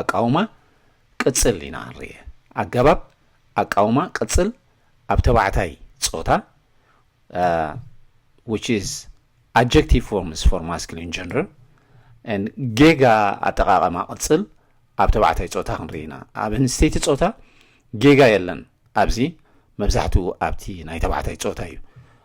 ኣቃውማ ቅጽል ኢና ንርኤ። ኣገባብ ኣቃውማ ቅጽል ኣብ ተባዕታይ ጾታ which is adjective forms for masculine gender and ጌጋ ኣጠቓቐማ ቅጽል ኣብ ተባዕታይ ጾታ ክንርኢ ኢና። ኣብ ኣንስተይቲ ጾታ ጌጋ የለን። ኣብዚ መብዛሕትኡ ኣብቲ ናይ ተባዕታይ ጾታ እዩ።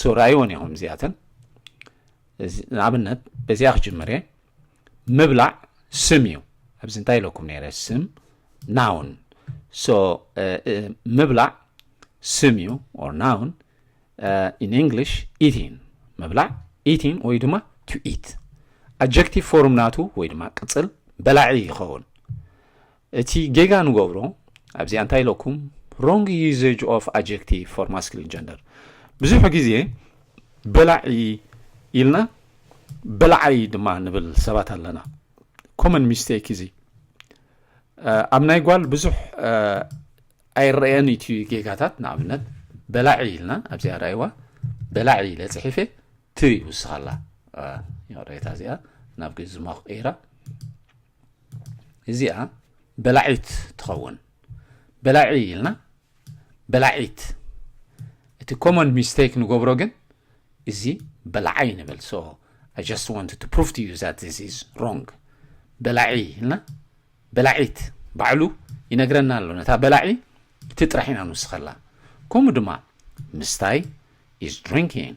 ሶራይ እውን እዮም እዚኣተን ንኣብነት በዚኣ ክጅምር እየ ምብላዕ ስም እዩ ኣብዚ እንታይ ኢለኩም ነይረ ስም ናውን ሶ ምብላዕ ስም እዩ ኦር ናውን ኢን እንግሊሽ ኢቲን ምብላዕ ኢቲን ወይ ድማ ቱ ኢት ኣጀክቲቭ ፎርም ናቱ ወይ ድማ ቅፅል በላዒ ይኸውን እቲ ጌጋ ንገብሮ ኣብዚኣ እንታይ ኢለኩም wrong usage of adjective for masculine gender ብዙሕ ግዜ በላዒ ኢልና በላዓይ ድማ ንብል ሰባት ኣለና ኮመን ሚስቴክ እዚ ኣብ ናይ ጓል ብዙሕ ኣይረአየን እቲ ጌጋታት ንኣብነት በላዒ ኢልና ኣብዚኣ ራይዋ በላዒ ኢለ ፅሒፌ ት ይውስኻላ ሬታ እዚኣ ናብ ግዝማ ክቀይራ እዚኣ በላዒት ትኸውን በላዒ ኢልና በላዒት እቲ ኮመን ሚስቴክ ንገብሮ ግን እዚ በላዓይ ንብል ሶ ኣይ ጀስት ዋንት ቱ ፕሩቭ ቱ ዩ ዛት ዚስ ኢዝ ሮንግ በላዒ ኢልና በላዒት ባዕሉ ይነግረና ኣሎ ነታ በላዒ እቲ ጥራሕ ኢና ንውስኸላ ከምኡ ድማ ምስታይ ኢዝ ድሪንኪንግ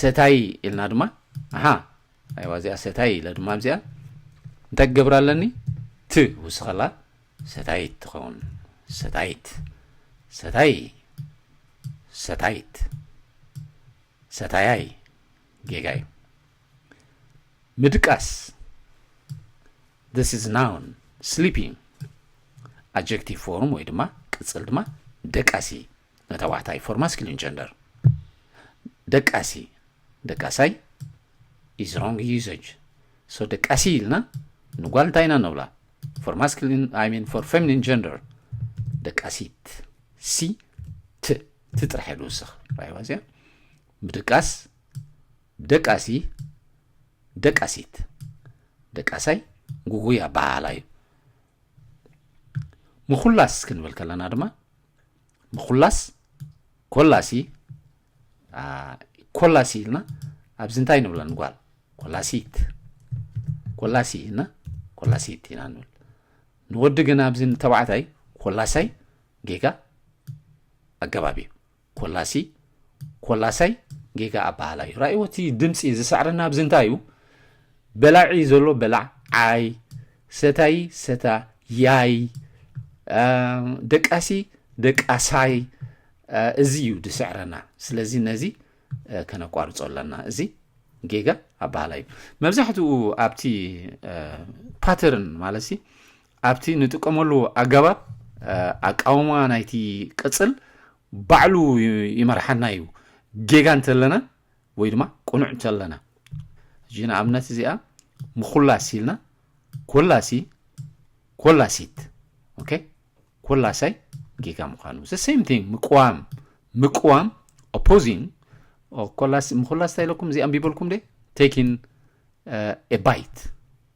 ሰታይ ኢልና ድማ ኣሓ ኣይዋ እዚኣ ሰታይ ኢለ ድማ ኣብዚኣ እንታይ ክገብር ኣለኒ ት ውስኸላ ሰታይት ትኸውን ሰታይት ሰታይ ሰታይት ሰታያይ ጌጋ እዩ ምድቃስ this is noun sleeping adjective form ወይ ድማ ቅጽል ድማ ደቃሲ ንተባዕታይ ፎር ማስኪሊን ጀንደር ደቃሲ ደቃሳይ ኢዝ ሮንግ ዩዘጅ ሶ ደቃሲ ኢልና ንጓል እንታይ ኢና ንብላ ፎር ማስኪሊን ኣይ ሚን ፎር ፌሚኒን ጀንደር ደቃሲት ሲ ት ት ጥራሕ ኢሉ ውስኽ ራይዋ እዚኣ ምድቃስ ደቃሲ ደቃሲት ደቃሳይ ጉጉይ ኣበሃህላ እዩ ምኹላስ ክንብል ከለና ድማ ምኹላስ ኮላሲ ኮላሲ ኢልና ኣብዚ እንታይ ንብላ ንጓል ኮላሲት ኮላሲ እና ኮላሲት ኢና ንብል ንወዲ ግን ኣብዚ ንተባዕታይ ኮላሳይ ጌጋ ኣገባብ እዩ ኮላሲ ኮላሳይ ጌጋ ኣባሃላ እዩ ራእዎ እቲ ድምፂ ዝሰዕረና ኣብዚ እንታይ እዩ በላዒ ዘሎ በላዕ ዓይ ሰታይ ሰታ ያይ ደቃሲ ደቃሳይ እዚ እዩ ዝስዕረና ስለዚ ነዚ ከነቋርፆ ኣለና እዚ ጌጋ ኣባሃላ እዩ መብዛሕትኡ ኣብቲ ፓተርን ማለት ኣብቲ ንጥቀመሉ ኣገባብ ኣቃውማ ናይቲ ቅጽል ባዕሉ ይመርሓና እዩ፣ ጌጋ እንተለና ወይ ድማ ቅኑዕ እንተለና። ሕጂ ንኣብነት እዚኣ ምኹላስ ኢልና ኮላሲ ኮላሲት ኦኬ ኮላሳይ ጌጋ ምዃኑ ዘ ሴም ቲንግ ምቅዋም ምቅዋም ኦፖዚንግ ኮላስ ምኹላስ እንታይ ኢለኩም እዚ ኣንቢበልኩም ደ ቴኪን ኤ ባይት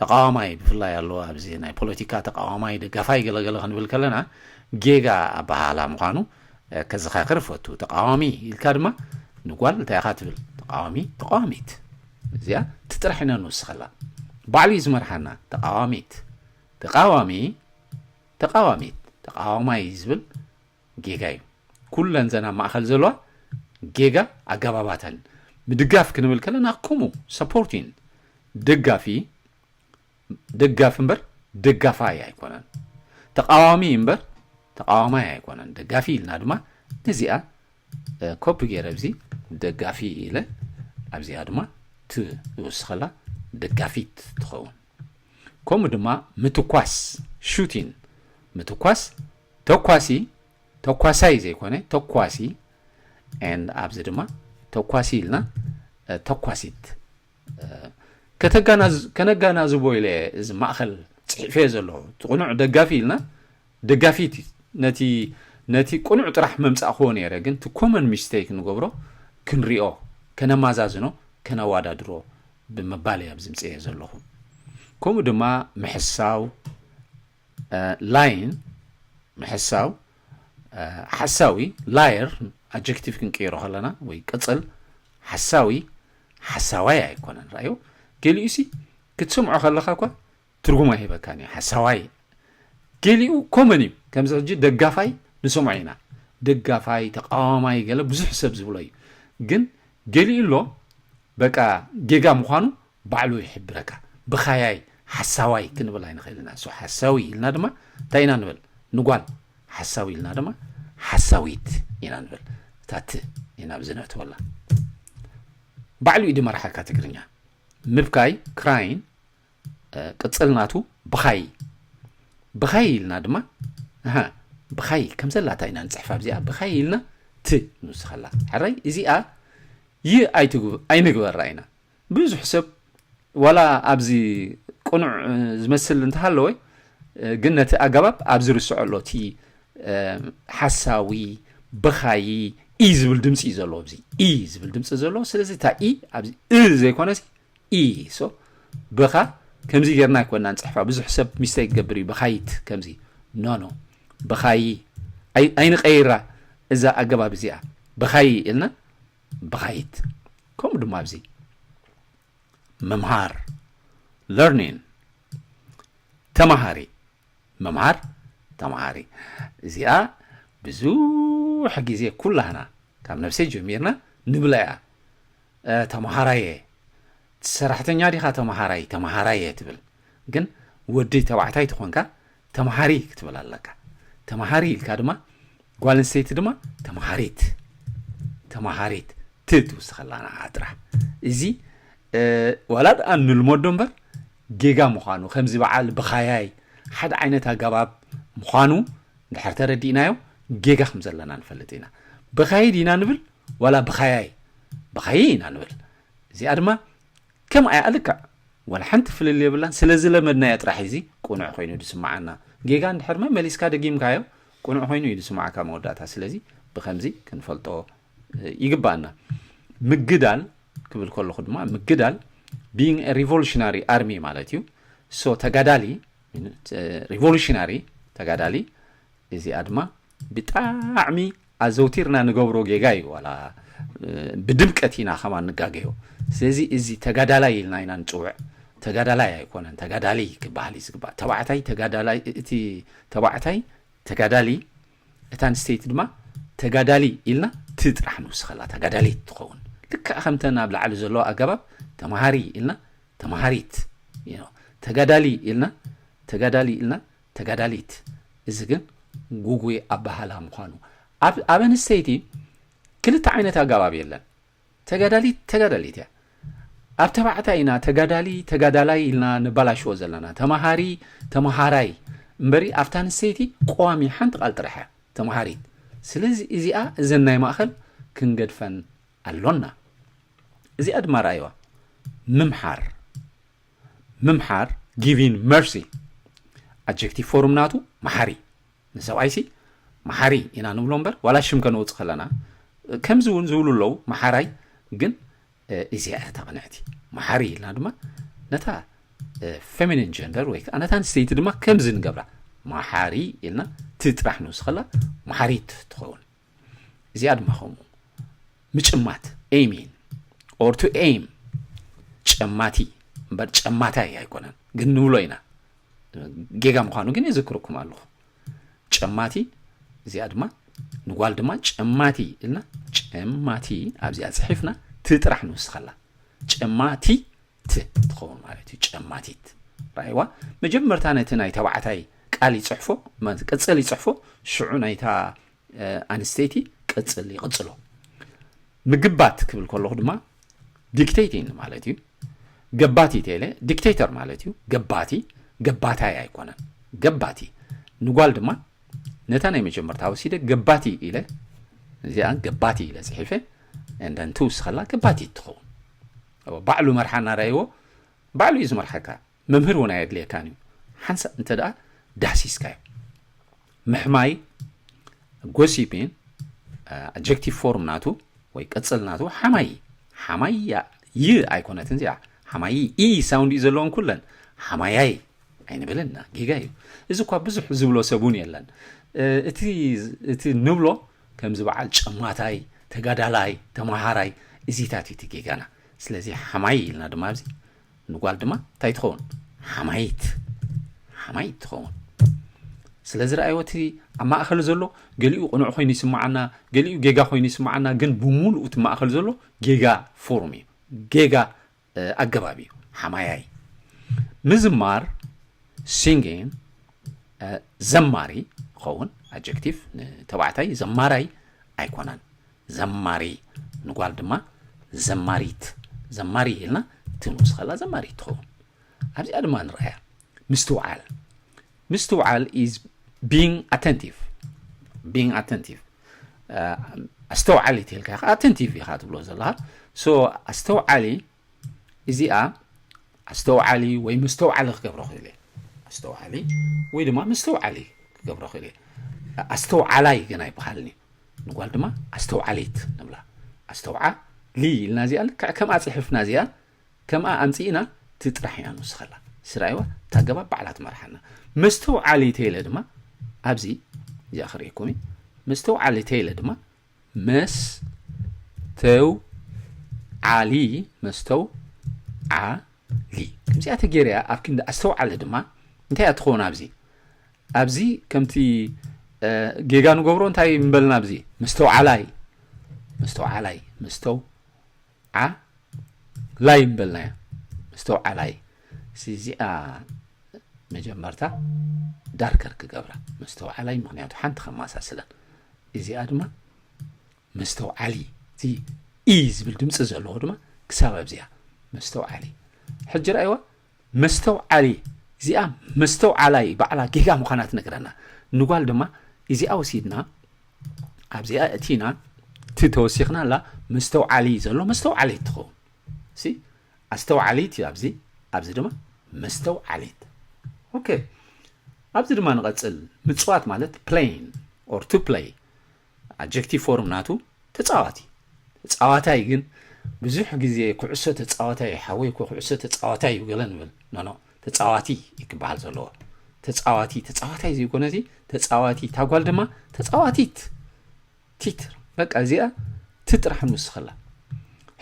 ተቃዋማይ ብፍላይ ኣሎ ኣብዚ ናይ ፖለቲካ ተቃዋማይ ደጋፋይ ገለገለ ክንብል ከለና ጌጋ ኣበሃህላ ምዃኑ ከዘኻክር እፈቱ ተቃዋሚ ኢልካ ድማ ንጓል እንታይ ኢኻ ትብል ተቃዋሚ ተቃዋሚት እዚኣ ትጥራሕ ኢና ንወስኸላ ባዕሉ እዩ ዝመርሓና ተቃዋሚት ተቃዋሚ ተቃዋሚት ተቃዋማይ ዝብል ጌጋ እዩ ኩለን ዘን ኣብ ማእኸል ዘለዋ ጌጋ ኣገባባተን ምድጋፍ ክንብል ከለና ከምኡ ሰፖርቲን ደጋፊ ደጋፊ እምበር ደጋፋይ ኣይኮነን ተቃዋሚ እምበር ተቃዋማይ ኣይኮነን ደጋፊ ኢልና ድማ ነዚኣ ኮፒ ገይረ እዚ ደጋፊ ኢለ ኣብዚኣ ድማ ትውስኸላ ደጋፊት ትኸውን ከምኡ ድማ ምትኳስ፣ Shooting፣ ምትኳስ፣ ተኳሲ፣ ተኳሳይ ዘይኮነ ተኳሲ፣ and ኣብዚ ድማ ተኳሲ ኢልና ተኳሲት ከነጋናዝቦ ኢለ እዚ ማእኸል ፅሒፈዮ ዘለኹ እቲ ቅኑዕ ደጋፊ ኢልና ደጋፊት ነቲ ነቲ ቁኑዕ ጥራሕ መምጻእክዎ ነይረ ግን እቲ ኮመን ሚስተይክ ንገብሮ ክንሪኦ ከነማዛዝኖ ከነዋዳድሮ ብምባል እየ ኣብዚ ምጽኤ ዘለኹ ከምኡ ድማ ምሕሳው ላይን ምሕሳው ሓሳዊ ላየር ኣጀክቲቭ ክንቅይሮ ከለና ወይ ቅጽል ሓሳዊ ሓሳዋይ ኣይኮነን ራእዮ ገሊኡሲ ክትሰምዖ ከለኻ እኳ ትርጉም ኣይህበካን እዩ ሓሳዋይ ገሊኡ ኮመን እዩ ከምዚ ሕጂ ደጋፋይ ንሰምዖ ኢና ደጋፋይ ተቃዋማይ ገለ ብዙሕ ሰብ ዝብሎ እዩ ግን ገሊኡ ኣሎ በቃ ጌጋ ምዃኑ ባዕሉ ይሕብረካ ብኻያይ ሓሳዋይ ክንብል ኣይንኽእል ኢና ሶ ሓሳዊ ኢልና ድማ እንታይ ኢና ንብል ንጓል ሓሳዊ ኢልና ድማ ሓሳዊት ኢና ንብል እታት ኢና ብዚ ነእትወላ ባዕሉ እዩ ድመራሓካ ትግርኛ ምብካይ ክራይን ቅጽል ናቱ ብኻይ ብኻይ ኢልና ድማ ኣሃ ብኻይ ከም ዘላታ ኢና ንጽሕፍ ኣብዚኣ ብኻይ ኢልና ት ንውስኸላ ሕራይ እዚኣ ይ ኣይንግበራ ኢና ብዙሕ ሰብ ዋላ ኣብዚ ቅኑዕ ዝመስል እንተሃለወ ግን ነቲ ኣገባብ ኣብ ዝርስዖ ኣሎ እቲ ሓሳዊ ብኻይ ኢ ዝብል ድምፂ እዩ ዘለዎ ኣብዚ ኢ ዝብል ድምፂ ዘለዎ ስለዚ እታ ኢ ኣብዚ እ ዘይኮነሲ ኢሶ ብኻ ከምዚ ጌርና ኣይኮናን ጽሕፋ ብዙሕ ሰብ ሚስተይ ክገብር እዩ ብኻይት ከምዚ ኖ ኖ ብኻይ ኣይንቀይራ እዛ ኣገባብ እዚኣ ብኻይ ኢልና ብኻይት ከምኡ ድማ ኣብዚ ምምሃር ለርኒን ተማሃሪ ምምሃር ተምሃሪ እዚኣ ብዙሕ ግዜ ኩላህና ካብ ነብሰይ ጀሚርና ንብላ እያ ተምሃራየ ሰራሕተኛ ዲኻ ተምሃራይ ተምሃራየ ትብል ግን ወዲ ተባዕታይ ትኾንካ ተምሃሪ ክትብል ኣለካ ተምሃሪ ኢልካ ድማ ጓል ኣንስተይቲ ድማ ተምሃሪት ተምሃሪት ት ትውስኸላና ዓጥራ እዚ ዋላ ድኣ ንልመዶ እምበር ጌጋ ምዃኑ ከምዚ በዓል ብኻያይ ሓደ ዓይነት ኣገባብ ምዃኑ እንድሕር ተረዲእናዮ ጌጋ ከም ዘለና ንፈልጥ ኢና ብኻይ ዲና ንብል ዋላ ብኻያይ ብኻይ ኢና ንብል እዚኣ ድማ ከም ኣያ ልክዕ ዋላ ሓንቲ ፍልል የብላን ስለ ዝለመድናዮ ጥራሕ እዚ ቁኑዕ ኮይኑ ዝስምዓና ጌጋ እንድሕር መሊስካ ደጊምካዮ ቁኑዕ ኮይኑ እዩ ዝስምዓካ መወዳእታ ስለዚ ብከምዚ ክንፈልጦ ይግባኣና ምግዳል ክብል ከለኹ ድማ ምግዳል ቢንግ ሪቮሉሽናሪ ኣርሚ ማለት እዩ ሶ ተጋዳሊ ሪቮሉሽናሪ ተጋዳሊ እዚኣ ድማ ብጣዕሚ ኣዘውቲርና ንገብሮ ጌጋ እዩ ዋላ ብድምቀት ኢና ከማ ንጋገዮ ስለዚ እዚ ተጋዳላይ ኢልና ኢና ንፅውዕ ተጋዳላይ ኣይኮነን ተጋዳሊ ክበሃል እዩ ዝግባእ ተባዕታይ ተጋዳላይ እቲ ተባዕታይ ተጋዳሊ እታ ኣንስተይቲ ድማ ተጋዳሊ ኢልና ቲ ጥራሕ ንውስኸላ ተጋዳሊት ትኸውን ልክዕ ከምተን ኣብ ላዕሊ ዘለዎ ኣገባብ ተማሃሪ ኢልና ተማሃሪት ተጋዳሊ ኢልና ተጋዳሊ ኢልና ተጋዳሊት እዚ ግን ጉጉይ ኣባሃላ ምዃኑ ኣብ ኣንስተይቲ ክልተ ዓይነት ኣገባብ የለን ተጋዳሊት ተጋዳሊት እያ ኣብ ተባዕታይ ኢና ተጋዳሊ ተጋዳላይ ኢልና ነባላሽዎ ዘለና ተማሃሪ ተማሃራይ እምበሪ ኣብታ ኣንስተይቲ ቀዋሚ ሓንቲ ቃል ጥራሕ እያ ተማሃሪት ስለዚ እዚኣ እዘን ናይ ማእኸል ክንገድፈን ኣሎና እዚኣ ድማ ረኣይዋ ምምሓር ምምሓር ጊቪን መርሲ ኣጀክቲቭ ፎርም ናቱ መሓሪ ንሰብኣይሲ መሓሪ ኢና ንብሎ እምበር ዋላ ሽም ከነውፅ ከለና ከምዚ እውን ዝብሉ ኣለዉ መሓራይ ግን እዚኣ እያ እታ ቅንዕቲ መሓሪ ኢልና ድማ ነታ ፌሚኒን ጀንደር ወይ ከዓ ነታ ኣንስተይቲ ድማ ከምዚ ንገብራ መሓሪ ኢልና ትጥራሕ ንውስኸላ መሓሪት ትኸውን እዚኣ ድማ ከምኡ ምጭማት ኤሚን ኦር ቱ ኤም ጨማቲ እምበር ጨማታይ ኣይኮነን ግን ንብሎ ኢና ጌጋ ምዃኑ ግን የዘክረኩም ኣለኹ ጨማቲ እዚኣ ድማ ንጓል ድማ ጨማቲ ኢልና ጨማቲ ኣብዚኣ ፅሒፍና ትጥራሕ ንውስኸላ ጨማቲ ት ትኸውን ማለት እዩ ጨማቲት ራይዋ መጀመርታ ነቲ ናይ ተባዕታይ ቃል ይፅሕፎ ቅፅል ይፅሕፎ ሽዑ ናይታ ኣንስተይቲ ቅፅል ይቕፅሎ ምግባት ክብል ከለኹ ድማ ዲክቴቲን ማለት እዩ ገባቲ ቴለ ዲክቴተር ማለት እዩ ገባቲ ገባታይ ኣይኮነን ገባቲ ንጓል ድማ ነታ ናይ መጀመርታ ወሲደ ገባቲ ኢለ እዚኣ ገባቲ ኢለ ፅሒፈ እንደን ትውስኸላ ገባቲ ትኸውን እወ ባዕሉ መርሓ እናረኣይዎ ባዕሉ እዩ ዝመርሓካ መምህር እውን ኣየድልየካን እዩ ሓንሳእ እንተ ደኣ ዳህሲስካዮ ምሕማይ ጎሲፒን ኣጀክቲቭ ፎርም ናቱ ወይ ቅፅል ናቱ ሓማይ ሓማይ ይ ኣይኮነትን እዚኣ ሓማይ ኢ ሳውንድ እዩ ዘለዎን ኩለን ሓማያይ ኣይንብልን ኢና ጌጋ እዩ እዚ እኳ ብዙሕ ዝብሎ ሰብ እውን የለን እቲ እቲ ንብሎ ከምዚ በዓል ጨማታይ ተጋዳላይ ተማሃራይ እዚታት እዩ ጌጋና ስለዚ ሓማይ ኢልና ድማ ኣብዚ ንጓል ድማ እንታይ ትኸውን ሓማይት ሓማይት ትኸውን ስለዚ ረኣይዎ እቲ ኣብ ማእኸል ዘሎ ገሊኡ ቅኑዕ ኮይኑ ይስምዓና ገሊኡ ጌጋ ኮይኑ ይስምዓና ግን ብምሉእ እቲ ማእኸል ዘሎ ጌጋ ፎርም እዩ ጌጋ ኣገባብ እዩ ሓማያይ ምዝማር ሲንጊን ዘማሪ ይኸውን ኣጀክቲቭ ንተባዕታይ ዘማራይ ኣይኮነን ዘማሪ ንጓል ድማ ዘማሪት ዘማሪ ኢልና እቲ ንኡስ ከላ ዘማሪት ትኸውን ኣብዚኣ ድማ ንርኣያ ምስትውዓል ምስትውዓል is being attentive being attentive ኣስተውዓሊ ትልካ ኢኻ ኣተንቲቭ ኢኻ ትብሎ ዘለኻ ሶ ኣስተውዓሊ እዚኣ ኣስተውዓሊ ወይ መስተውዓሊ ክገብሮ ክእል እየ ኣስተውዓሊ ወይ ድማ መስተውዓሊ ክገብሮ ክእል እየ ኣስተውዓላይ ግን ኣይበሃልን እዩ ንጓል ድማ ኣስተውዓሊት ንብላ ኣስተውዓሊ ኢልና እዚኣ ልክዕ ከምኣ ፅሕፍና እዚኣ ከምኣ ኣምጺእና እቲ ጥራሕ እያ ንውስኸላ ስራይዋ እታ ገባ ባዕላ ትመርሓና መስተውዓሊ ተይለ ድማ ኣብዚ እዚኣ ክርእየኩም እዩ መስተውዓሊ ተይለ ድማ መስ ተው ዓሊ መስተው ዓሊ ከምዚኣ ተገይርያ ኣብ ክንዲ ኣስተውዓሊ ድማ እንታይ እያ ትኸውን ኣብዚ ኣብዚ ከምቲ ጌጋ ንገብሮ እንታይ ምበልና ኣብዚ መስተውዓላይ መስተውዓላይ መስተው ዓላይ ምበልናያ መስተውዓላይ ሲ እዚኣ መጀመርታ ዳርከር ክገብራ መስተውዓላይ ምክንያቱ ሓንቲ ከማሳስለን እዚኣ ድማ መስተውዓሊ እቲ ኢ ዝብል ድምፂ ዘለዎ ድማ ክሳብ ኣብዚኣ መስተውዓሊ ሕጂ ራእይዋ መስተውዓሊ እዚኣ መስተውዓላይ ባዕላ ጌጋ ምዃና ትነግረና ንጓል ድማ እዚኣ ወሲድና ኣብዚኣ እቲና እቲ ተወሲኽና ኣላ መስተውዓሊ ዘሎ መስተውዓሊት ትኸውን ሲ ኣስተውዓሊት እዩ ኣብዚ ኣብዚ ድማ መስተውዓሊት ኦኬ ኣብዚ ድማ ንቐፅል ምፅዋት ማለት ፕሌይን ኦር ቱ ፕሌይ ኣጀክቲቭ ፎርም ናቱ ተጻዋቲ ተጻዋታይ ግን ብዙሕ ግዜ ኩዕሶ ተጻዋታይ እዩ ሓወይ እኮ ኩዕሶ ተጻዋታይ እዩ ገለ ንብል ኖኖ ተጻዋቲ እዩ ክበሃል ዘለዎ ተጻዋቲ ተጻዋታይ ዘይኮነ እዚ ተጻዋቲ እታ ጓል ድማ ተጻዋቲት ቲት በቃ እዚኣ ትጥራሕ ንውስኸላ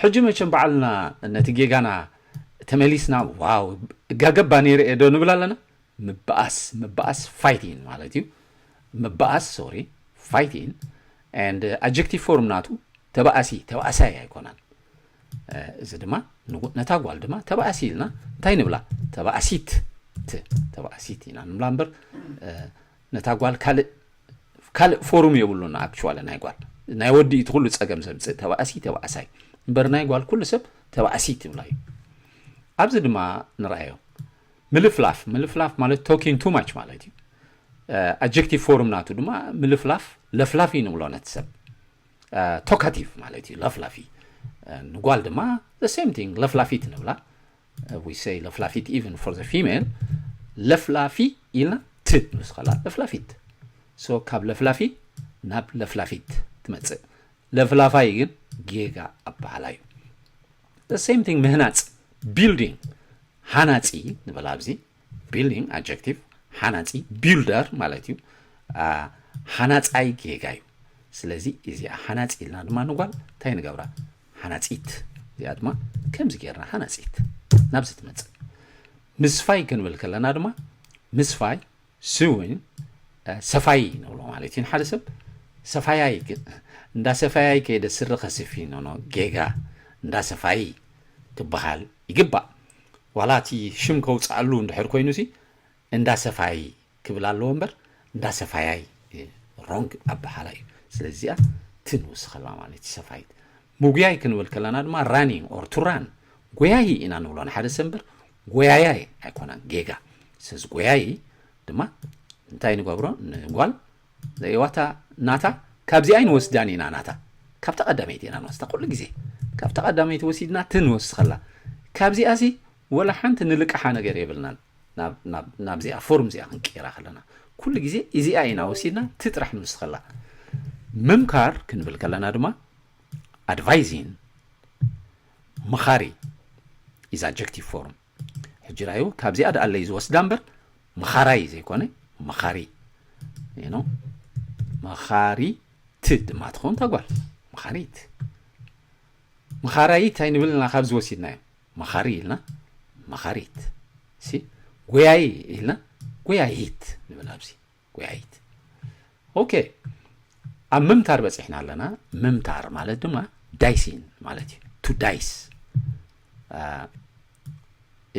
ሕጂ መቸም በዓልና ነቲ ጌጋና ተመሊስና ዋው እጋገባ ነይረ እየ ዶ ንብል ኣለና ምባኣስ ምባኣስ ፋይቲን ማለት እዩ ምባኣስ ሶሪ ፋይቲን and ኣጀክቲቭ ፎርም ናቱ ተባኣሲ ተባኣሳይ ኣይኮነን እዚ ድማ ነታ ጓል ድማ ተባኣሲ ኢልና እንታይ ንብላ ተባኣሲት ት ተባኣሲት ኢና ንብላ እምበር ነታ ጓል ካልእ ካልእ ፎርም የብሉን ኣክቹዋሊ ናይ ጓል ናይ ወዲ እቲ ኩሉ ፀገም ዘምፅእ ተባእሲ ተባእሳይ እምበር ናይ ጓል ኩሉ ሰብ ተባእሲ ትብላ እዩ ኣብዚ ድማ ንርኣዮ ምልፍላፍ ምልፍላፍ ማለት ቶኪን ቱ ማች ማለት እዩ ኣጀክቲቭ ፎርም ናቱ ድማ ምልፍላፍ ለፍላፊ ንብሎ ነቲ ሰብ ቶካቲቭ ማለት እዩ ለፍላፊ ንጓል ድማ ሴም ቲንግ ለፍላፊት ንብላ ዊሰይ ለፍላፊት ኢቨን ፎር ዘ ፊሜል ለፍላፊ ኢልና ት ንስኸላ ለፍላፊት ሶ ካብ ለፍላፊ ናብ ለፍላፊት ትመፅእ ለፍላፋይ ግን ጌጋ ኣበሃላ እዩ the same thing ምህናጽ building ሃናጺ ንበል ኣብዚ building adjective ሃናጺ builder ማለት እዩ ሃናጻይ ጌጋ እዩ ስለዚ እዚኣ ሃናጺ ኢልና ድማ ንጓል እንታይ ንገብራ ሃናጺት እዚኣ ድማ ከምዚ ጌርና ሃናጺት ናብዚ ትመጽእ ምስፋይ ክንብል ከለና ድማ ምስፋይ ስዊን ሰፋዪ ንብሎ ማለት እዩ ንሓደ ሰብ ሰፋያይ ግን እንዳ ሰፋያይ ከይደ ስሪ ከስፊ ኖኖ ጌጋ እንዳ ሰፋዪ ክበሃል ይግባእ ዋላ እቲ ሽም ከውፅኣሉ እንድሕር ኮይኑ ሲ እንዳ ሰፋዪ ክብል ኣለዎ እምበር እንዳ ሰፋያይ ሮንግ ኣበሓላ እዩ ስለዚ እዚኣ ትንውስኸላ ማለት እዩ ሰፋይት ምጉያይ ክንብል ከለና ድማ ራኒንግ ኦር ቱ ራን ጎያዪ ኢና ንብሎ ንሓደ ሰብ እምበር ጎያያይ ኣይኮነን ጌጋ ስለዚ ጎያዪ ድማ እንታይ ንገብሮ ንጓል ዘይዋታ ናታ ካብዚ ኣይንወስዳን ኢና ናታ ካብታ ቀዳመይቲ ኢና ንወስዳ ኩሉ ግዜ ካብታ ቀዳመይቲ ወሲድና እቲ ንወስኸላ ካብዚኣ ሲ ወላ ሓንቲ ንልቅሓ ነገር የብልናን ናብዚኣ ፎርም እዚኣ ክንቅይራ ከለና ኩሉ ግዜ እዚኣ ኢና ወሲድና እቲ ጥራሕ ንወስኸላ ምምካር ክንብል ከለና ድማ Advising፣ መኻሪ፣ is adjective form ሕጂ ራዩ ካብዚኣ ደኣለይ ዝወስዳ እምበር መኻራይ ዘይኮነ መኻሪ ኖ መኻሪት ድማ ትኸውን ታጓል መኻሪት መኻራይት ኣይንብልና ካብዚ ወሲድናዮ መኻሪ ኢልና መኻሪት ሲ ጎያይ ኢልና ጎያይት ንብል ኣብዚ ጎያይት ኦኬ ኣብ ምምታር በፂሕና ኣለና ምምታር ማለት ድማ ዳይሲን ማለት እዩ ቱ ዳይስ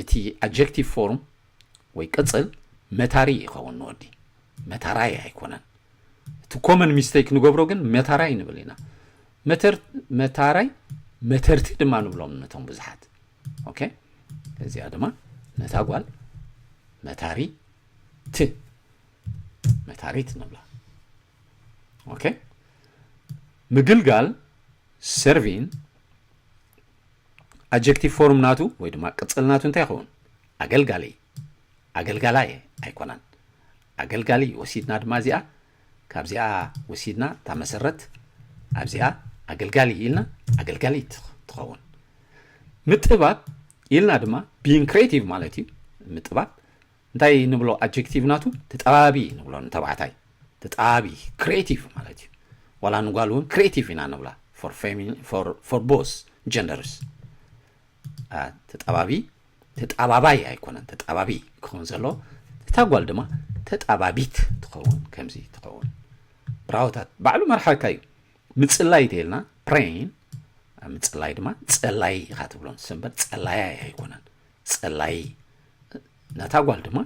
እቲ ኣጀክቲቭ ፎርም ወይ ቅፅል መታሪ ይኸውን ንወዲ መታራይ ኣይኮነን እቲ ኮመን ሚስተይክ ንገብሮ ግን መታራይ ንብል ኢና መታራይ መተርቲ ድማ ንብሎም ነቶም ብዙሓት ኦኬ እዚኣ ድማ ነታ ጓል መታሪ ት መታሪት ንብላ ኦኬ ምግልጋል ሰርቪን ኣጀክቲቭ ፎርም ናቱ ወይ ድማ ቅፅል ናቱ እንታይ ይኸውን ኣገልጋሊ ኣገልጋላይ ኣይኮነን ኣገልጋሊ ወሲድና ድማ እዚኣ ካብዚኣ ወሲድና እታ መሰረት ኣብዚኣ ኣገልጋሊ ኢልና ኣገልጋሊት ትኸውን ምጥባብ ኢልና ድማ ቢን ክሬቲቭ ማለት እዩ ምጥባብ እንታይ ንብሎ ኣጀክቲቭ ናቱ ተጠባቢ ንብሎ ንተባዕታይ ተጠባቢ ክሬቲቭ ማለት እዩ ዋላ ንጓል እውን ክሬቲቭ ኢና ንብላ ፎር ቦስ ጀንደርስ ተጠባቢ ተጣባባይ ኣይኮነን ተጣባቢ ክኸውን ዘሎ እታ ጓል ድማ ተጣባቢት ትኸውን ከምዚ ትኸውን ብራውታት ባዕሉ መርሓካ እዩ ምጽላይ ተይልና ፕሬን ምጽላይ ድማ ጸላይ ኢኻ ትብሎም ሰንበት ጸላያ ኣይኮነን ጸላይ ነታ ጓል ድማ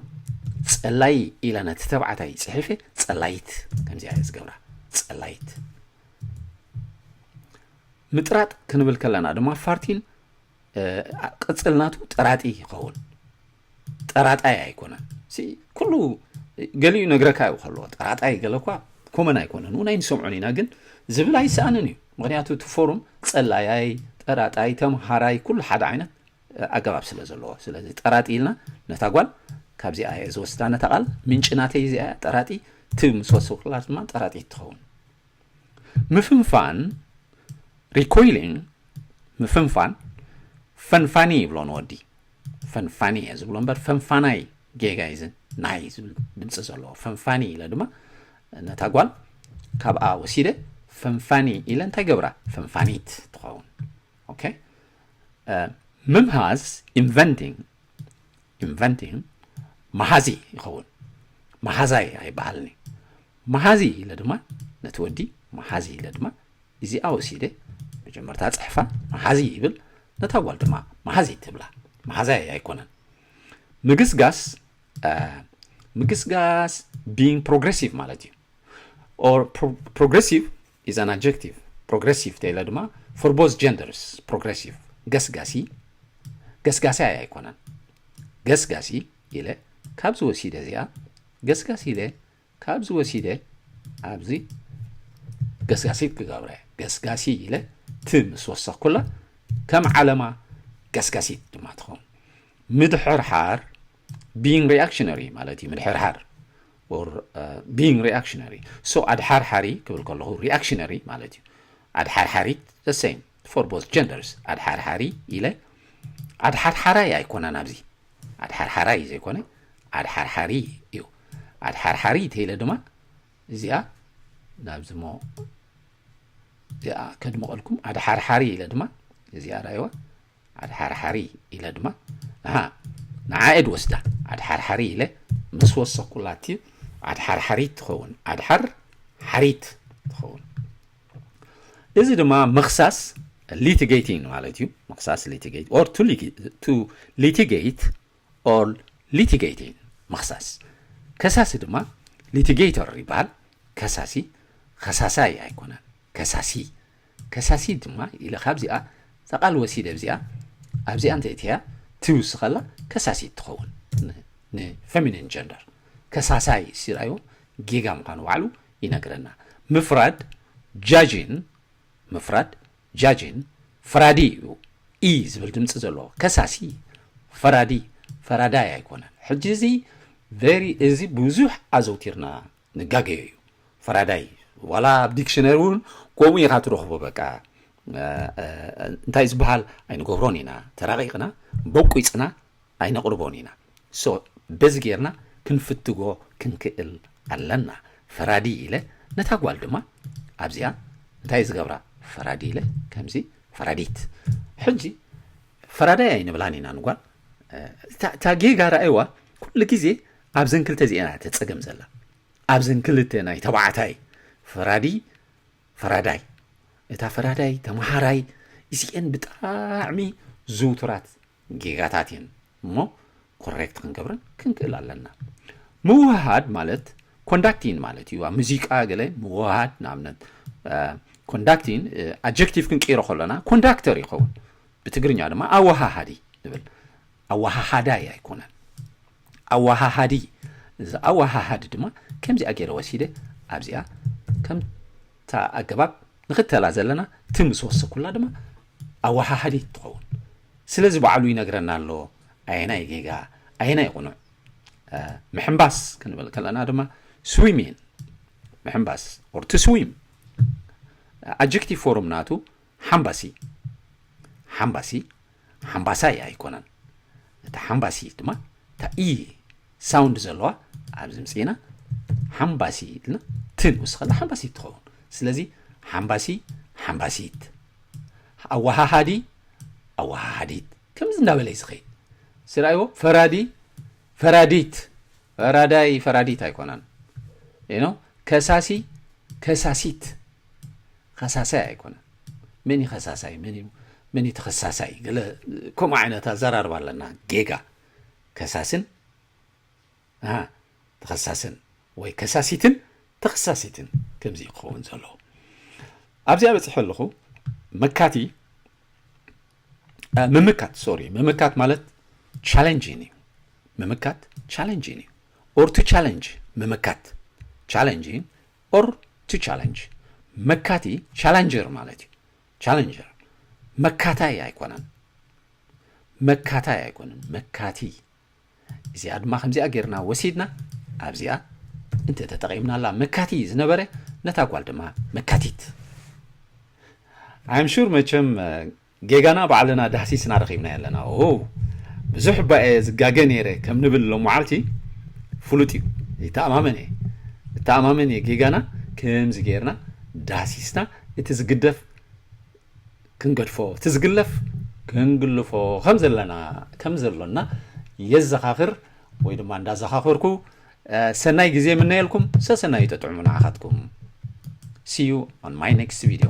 ጸላይ ኢላ ነቲ ተባዕታይ ጽሒፈ ጸላይት ከምዚኣ እየ ዝገብራ ጸላይት ምጥራጥ ክንብል ከለና ድማ ፋርቲን ቅጽልናቱ ጥራጢ ይኸውን ጠራጣይ ኣይኮነን ኩሉ ገሊኡ ነግረካ እዩ ከለዎ ጠራጣይ ገለ እኳ ኮመን ኣይኮነን እውን ኣይንሰምዖን ኢና ግን ዝብል ኣይሰኣንን እዩ ምክንያቱ እቲ ፎሩም ፀላያይ ጠራጣይ ተምሃራይ ኩሉ ሓደ ዓይነት ኣገባብ ስለ ዘለዎ ስለዚ ጠራጢ ኢልና ነታ ጓል ካብዚኣ እየ ዝወስዳ ነታ ቃል ምንጭ ናተይ እዚኣ ጠራጢ ትብ ምስ ወሰኩላ ድማ ጠራጢ ትኸውን ምፍንፋን ሪኮይሊንግ ምፍንፋን ፈንፋኒ ይብሎ ንወዲ ፈንፋኒ እየ ዝብሎ እምበር ፈንፋናይ ጌጋ እዩ ዝን ናይ ዝብል ድምፂ ዘለዎ ፈንፋኒ ኢለ ድማ ነታ ጓል ካብኣ ወሲደ ፈንፋኒ ኢለ እንታይ ገብራ ፈንፋኒት ትኸውን ኦኬ ምምሃዝ ኢንቨንቲንግ ኢንቨንቲንግ መሃዚ ይኸውን መሃዛይ ኣይበሃልኒ መሃዚ ኢለ ድማ ነቲ ወዲ መሃዚ ኢለ ድማ እዚኣ ወሲደ መጀመርታ ጽሕፋ መሓዚ ይብል ነታ ጓል ድማ መሓዚት ትብላ መሓዛይ ኣይኮነን ምግስጋስ ምግስጋስ ቢንግ ፕሮግሬሲቭ ማለት እዩ ኦር ፕሮግሬሲቭ ኢዝ ኣን ኣጀክቲቭ ፕሮግሬሲቭ ተኢለ ድማ ፎር ቦዝ ጀንደርስ ፕሮግሬሲቭ ገስጋሲ ገስጋሲ ኣይ ኣይኮነን ገስጋሲ ኢለ ካብዚ ወሲደ እዚኣ ገስጋሲ ኢለ ካብዚ ወሲደ ኣብዚ ገስጋሲት ክገብረ ገስጋሲ ኢለ ት ምስ ወሰኽኩላ ከም ዓለማ ገስጋሲት ድማ ትኸውን ምድሕርሓር ቢንግ ሪኣክሽነሪ ማለት እዩ ምድሕርሓር ቢንግ ሪኣክሽነሪ ሶ ኣድሓርሓሪ ክብል ከለኹ ሪኣክሽነሪ ማለት እዩ ኣድሓርሓሪት ዘሰይም ፎር ቦዝ ጀንደርስ ኣድሓርሓሪ ኢለ ኣድሓርሓራይ ኣይኮነን ኣብዚ ኣድሓርሓራይ ዘይኮነ ኣድሓርሓሪ እዩ ኣድሓርሓሪ ተኢለ ድማ እዚኣ ናብዚ ሞ እዚኣ ከድምቐልኩም ኣድሓርሓሪ ኢለ ድማ እዚኣ ራእዋ ኣድሓርሓሪ ኢለ ድማ ንሃ ንዓኤ ድወስዳ ኣድሓርሓሪ ኢለ ምስ ወሰኩላቲ ኣድሓርሓሪት ትኸውን ኣድሓር ሓሪት ትኸውን እዚ ድማ ምኽሳስ ሊቲጌቲንግ ማለት እዩ ምኽሳስ ሊቲጌት ኦር ቱ ሊቲጌት ኦር ሊቲጌቲንግ ምኽሳስ ከሳሲ ድማ ሊቲጌተር ይበሃል ከሳሲ ከሳሳይ ኣይኮነን ከሳሲ ከሳሲ ድማ ኢለ ካብዚኣ ተቓል ወሲደ ብዚኣ ኣብዚኣ እንተ እትያ ትውስ ከላ ከሳሲ ትኸውን ንፌሚኒን ጀንደር ከሳሳይ ሲራዮ ጌጋ ምዃኑ ባዕሉ ይነግረና። ምፍራድ፣ Judging፣ ምፍራድ፣ Judging፣ ፈራዲ እዩ፣ ኢ ዝብል ድምጺ ዘለዎ፣ ከሳሲ፣ ፈራዲ፣ ፈራዳይ ኣይኮነን። ሕጂ እዚ very እዚ ብዙሕ ኣዘውቲርና ንጋገዮ እዩ። ፈራዳይ ዋላ ኣብ ዲክሽነሪ እውን ከምኡ ኢኻ ትረኽቦ በቃ እንታይ ዝበሃል ኣይንገብሮን ኢና ተራቂቕና በቊፅና ኣይነቕርቦን ኢና so በዚ ጌርና ክንፍትጎ ክንክእል ኣለና ፈራዲ ኢለ ነታ ጓል ድማ ኣብዚኣ እንታይ ዝገብራ ፈራዲ ኢለ ከምዚ ፈራዲት ሕጂ ፈራዳይ ኣይንብላን ኢና ንጓል እታ ጌጋ ረኣይዋ ኩሉ ግዜ ኣብዘን ክልተ እዚኤን እያ ተጸገም ዘላ ኣብዘን ክልተ ናይ ተባዕታይ ፈራዲ ፈራዳይ እታ ፈራዳይ ተማሃራይ እዚኤን ብጣዕሚ ዝውቱራት ጌጋታት እየን እሞ ኮሬክት ክንገብረን ክንክእል ኣለና ምውህሃድ ማለት ኮንዳክቲን ማለት እዩ ኣብ ሙዚቃ ገለ ምውህሃድ ንኣብነት ኮንዳክቲን ኣጀክቲቭ ክንቅይሮ ከሎና ኮንዳክተር ይኸውን ብትግርኛ ድማ ኣወሃሃዲ ንብል ኣወሃሃዳይ ኣይኮነን ኣወሃሃዲ እዚ ኣወሃሃዲ ድማ ከምዚኣ ገይረ ወሲደ ኣብዚኣ ከምታ ኣገባብ ንክተላ ዘለና እቲ ምስ ወሰኩላ ድማ ኣወሃሃዲት ትኸውን። ስለዚ ባዕሉ ይነግረና ኣሎ ኣየናይ ጌጋ ኣየናይ ቁኑዕ። ምሕንባስ ክንብል ከለና ድማ ስዊሚን ምሕንባስ ኦር ቱ ስዊም ኣጀክቲቭ ፎርም ናቱ ሓምባሲ ሓምባሲ ሓምባሳይ ኣይኮነን እቲ ሓምባሲ ድማ ታኢ ሳውንድ ዘለዋ ኣብዚ ምፅኢና ሓምባሲ ኢልና ት ንውስኸላ ሓምባሲት ትኸውን ስለዚ ሓምባሲ ሓምባሲት ኣወሃሃዲ ኣወሃሃዲት ከምዚ እንዳበለ እዩ ዝኸይድ ስራይዎ ፈራዲ ፈራዲት ፈራዳይ ፈራዲት ኣይኮነን ኖ ከሳሲ ከሳሲት ከሳሳይ ኣይኮነን መን እዩ ከሳሳይ መን እዩ መን እዩ ተኸሳሳይ ገለ ከምኡ ዓይነት ኣዘራርባ ኣለና ጌጋ ከሳስን ኣሃ ተኸሳስን ወይ ከሳሲትን ተኸሳሲትን ከምዚ እዩ ክኸውን ዘለዎ ኣብዚኣ በፂሐ ኣለኹ መካቲ ምምካት ሶሪ ምምካት ማለት ቻለንጅን እዩ ምምካት ቻለንጅን እዩ ኦር ቱ ቻለንጅ ምምካት ቻለንጅን ኦር ቱ ቻለንጅ መካቲ ቻለንጀር ማለት እዩ ቻለንጀር መካታይ ኣይኮነን መካታይ ኣይኮነን መካቲ እዚኣ ድማ ከምዚኣ ጌርና ወሲድና ኣብዚኣ እንተ ተጠቒምናላ መካቲ ዝነበረ ነታ ጓል ድማ መካቲት ኣይምሹር መቸም ጌጋና ባዕልና ዳህሲስና ረኺብና ኣለና ኦ ብዙሕ እባ እየ ዝጋገ ነይረ ከም ንብል ሎ መዓልቲ ፍሉጥ እዩ ይተኣማመን እየ እተኣማመን እየ ጌጋና ከምዚ ገይርና ዳህሲስና እቲ ዝግደፍ ክንገድፎ፣ እቲ ዝግለፍ ክንግልፎ ከም ዘለና ከም ዘሎና የዘኻኽር ወይ ድማ እንዳዘኻኽርኩ ሰናይ ግዜ ምነየልኩም ሰሰናዩ ጠጥዑሙ ንዓኻትኩም ሲዩ ኦን ማይ ኔክስት ቪድዮ